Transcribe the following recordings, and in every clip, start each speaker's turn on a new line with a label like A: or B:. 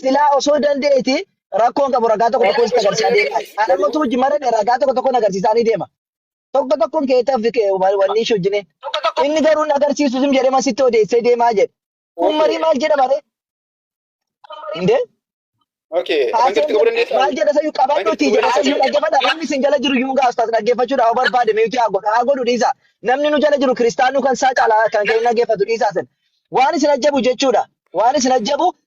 A: Silaa osoo dandeeti rakkoon qabu ragaa tokko tokko sitti agarsiisaa deema. Ana mootu hojii marame ragaa tokko tokkoon agarsiisaa ni deema. Tokko tokkoon keettaaf wanni ishee hojjine. Inni garuu na agarsiisu sim jedhee masitti odeessee deemaa jedhe. Kun marii maal jedha bare? Indee? Okay. Hanqatti qabuu dandeessaa? Maal jedha sayyuu qabadhuutii jedha sayyuu dhaggeeffadha. Namni isin jala jiru yuun gaaftas dhaggeeffachuudha yoo barbaade miitii haa godhu haa godhu dhiisa. Namni nu jala jiru kiristaanuu kan isaa caalaa kan kee dhaggeeffatu dhiisaa sin. Waan isin ajjabu jechuudha. Waan isin ajjabu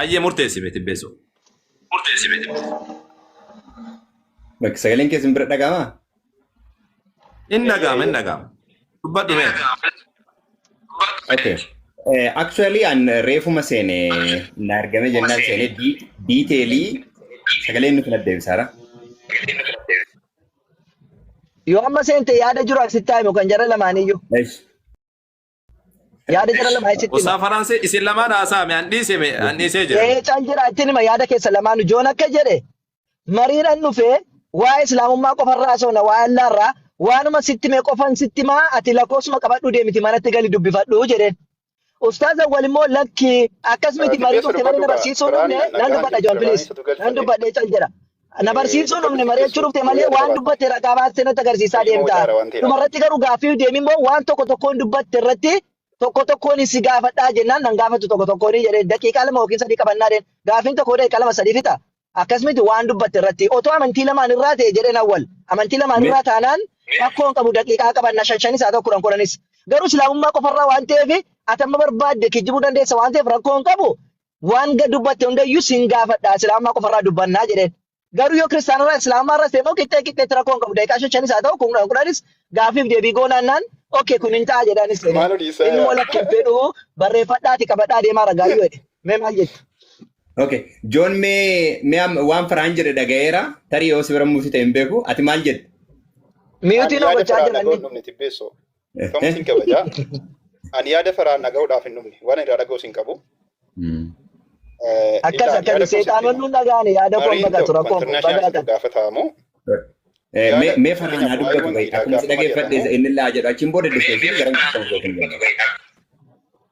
B: Ayyee murteessi mee tibbeessoo.
C: Bakki sagaleen kee isin bira dhaga'amaa?
B: Hin dhaga'ama hin dhaga'ama. Dubbadhu mee.
C: Okay. Eh, actually an reefuma seene na argame jennaan seene di- diiteelii sagaleen nuti na deebisaara.
A: Yoo amma seente yaada jiru asitti haayimu kan jara lamaaniyyuu. Esh. Yaada jara lama achitti hima. Usaa Faransii isin lamaan
B: haasaa mee an dhiise mee an dhiisee jira. Ee cal jira ittiin hima yaada
A: keessa lamaanu joon akka jedhe mariidhan dhufee waa'ee islaamummaa qofarraa haasofna waa'ee allaarraa waanuma sitti mee qofan sitti maa ati lakkoofsuma qabadhuu deemiti manatti gali dubbifadhuu jedheen. Ustaaza walimmoo lakki akkas miti marii Dubbee turte sirba marii na dhugaa. barsiisuu Quraan dhufne nan nagaa dubbadha joon jirti. piliis Quraanichatu galcha nan jira. dubbadhee cal jedha. Na Eh, barsiisuu dhufne Xiqilitti mari'achuu keessuun dhufte malee fooyya'aa waan qabaata. dubbatte ragaa baaste natti agarsiisaa Ilmoo deemta. jaara waan ta'eef Dhuma irratti garuu gaaffii deemi immoo waan tokko tokkoon dubbatte irratti tokko tokkoon si gaafadhaa jennaan nan gaafatu tokko tokkoon jedhee daqiiqaa lama yookiin sadii qabannaa deema. Gaaffiin tokko daqiiqaa lama sadii fixa. Akkasumatti waan dubbatte irratti otoo amantii lamaan irraa ta'e jedheen awwal. Amantii lamaan irraa taanaan rakkoon qabu daqiiqaa qabanna shan shanis haa ta'u kudhan kudhanis. Garuu islaamummaa qofarraa waan ta'eef atamma barbaadde kijibuu dandeessa waan ta'eef rakkoon qabu waan gad dubbatte hundayyuu sin gaafadha islaamummaa qofarraa dubbannaa jedheen. Garuu yoo kiristaanarraa islaamummaa irra seemmoo qixxee qixxeetti rakkoo hin qabu daqiiqaa shan shanis haa ta'u kun kudhan kudhanis gaaffiif deebii goonaannaan okkee kun hin ta'a jedhaan seene. Maaloo dhiisaa Inni yaa. immoo lakki hin fedhu barreeffadhaati qabadhaa deemaa ragaayyuu jedhe. Mee maal jettu? Okay.
C: Joon mee mee am- waan faraan jedhe dhagayeera tarii yoo si bira mufite hin beeku ati maal jette? Ani Miyuutiin
A: yaada hojjechaa faraan jiran dhagoon inni. dhumne tibbeessoo. Kamuu
D: sin kabaja. Ani yaada faraan dhaga'uudhaaf hin dhumne. Waan irraa dhaga'u sin qabu. Mm. Eh, Akkas
A: ilaa- yaada akkasi koo sitti seexaanonni hima. dhagaane yaada koo Mariin dhagatu tokko rakkoon kun international dhagaatan. isin gaafatamu. Eh, Yaada
D: mee- mee
C: faraan fakkeenyaaf haa waa'ee dubbatu wangeelaa akkuma si gaafama dhaggeeffadhe jedhamu inni laa jedhu achiin booda diskeeshin gara nama tokko hin jedhu.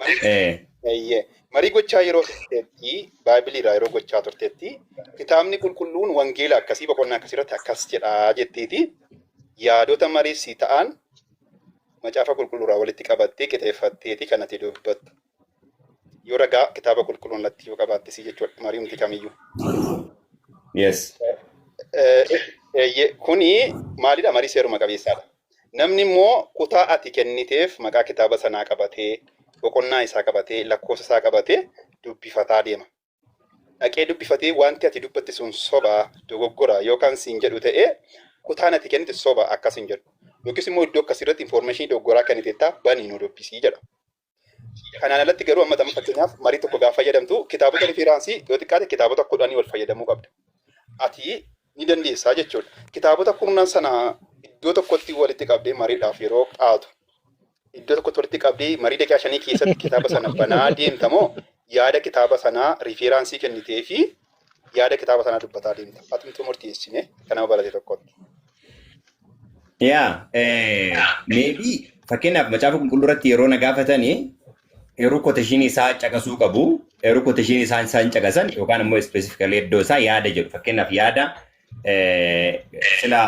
D: Marii Ee. Eeyyee. Marii gochaa yeroo turteetti, Baaybiliirraa yeroo gochaa turteetti, kitaabni qulqulluun wangeela akkasii boqonnaa akkasii irratti akkas jedhaa jetteeti yaadota marii si ta'an macaafa qulqulluurraa walitti qabattee qixeeffatteeti kan ati dubbattu. Yoo ragaa kitaaba qulqulluu irratti yoo qabaatte si jechuudha marii humti kamiyyuu.
C: Yes. Eh,
D: eh, ye- Kuni maalidha marii seeruma qabeessaadha. Namni immoo kutaa ati kenniteef maqaa kitaaba sanaa qabatee, boqonnaa isaa qabatee, lakkoofsa isaa qabatee dubbifataa deema. Dhaqee dubbifatee wanti ati dubbatte sun soba, dogoggora yoo kan siin jedhu ta'e kutaan ati kennite soba akka siin jedhu. Yookiis immoo iddoo akkasii irratti information dogoggoraa kenniteetta banii nu dubbisii jedha. Kanaan alatti garuu amma tamma fakkeenyaaf marii tokko gaafa fayyadamtu kitaabota riferaansii yoo xiqqaate kitaabota kudhanii ol fayyadamuu qabda. Ati ni dandeessaa jechuudha. Kitaabota kurnan sana iddoo tokkotti walitti qabdee mariidhaaf yeroo qaatu iddoo tokkotti walitti qabdee marii daqiiqaa shanii keessatti kitaaba sana banaa deemta moo yaada kitaaba sanaa riferaansii kennitee fi yaada kitaaba sanaa dubbataa deemta. Atumtuu murteessine kan nama barate tokkotti. Yaa,
C: meebii fakkeenyaaf macaafa qulqulluu irratti yeroo na gaafatanii eeruu kooteshiin isaa caqasuu qabu. Eeruu kooteshiin isaa isaan caqasan yookaan immoo ispeesifikalii iddoo isaa yaada jedhu. Fakkeenyaaf yaada eh, sila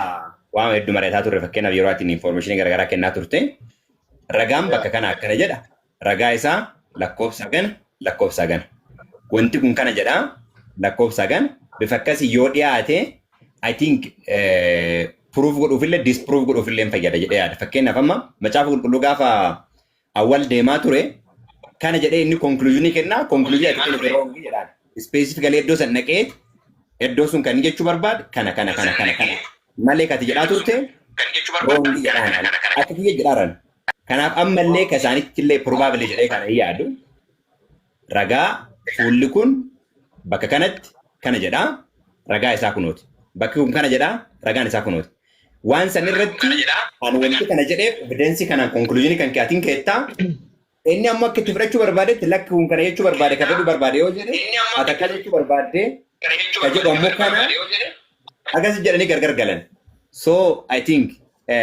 C: waan hedduu mari'ataa turre fakkeenyaaf yeroo ati infoormeeshinii garaagaraa kennaa turte ragaan bakka kana akkana jedha. Ragaa isaa lakkoofsa hagana, lakkoofsa hagana. Wanti kun kana jedha, lakkoofsa hagana. Bifa akkasii yoo dhiyaate, I think proof godhuufillee disproof godhuufillee hin fayyada jedhee yaada. Fakkeenyaaf amma macaafa qulqulluu gaafa awwal deemaa ture, kana jedhee inni konkuluuzinii kennaa, konkuluuzinii ati kennite roongi jedhaan. Ispeesifikalii iddoo san dhaqee, iddoo sun kan jechuu barbaade, kana kana kana kana kana. Malee kati jedhaa turte, roongi jedhaan. Akka kiyya jedhaaran. Kanaaf ammallee ka isaanitti illee probably jedhee kana hin yaadu ragaa fuulli kun bakka kanatti kana jedha ragaa isaa kunooti. Bakki kun kana jedha ragaan isaa kunooti. Waan san irratti ani wanti kana jedheef evidensii kanaan conclusion kan kee atiin keettaa inni ammoo akka itti fudhachuu barbaadetti lakki kun kana jechuu barbaade ka fedhuu barbaade yoo jedhe ati akkas jechuu barbaadde ka jedhu ammoo kana akkas jedhanii gargar galan. So I think eh,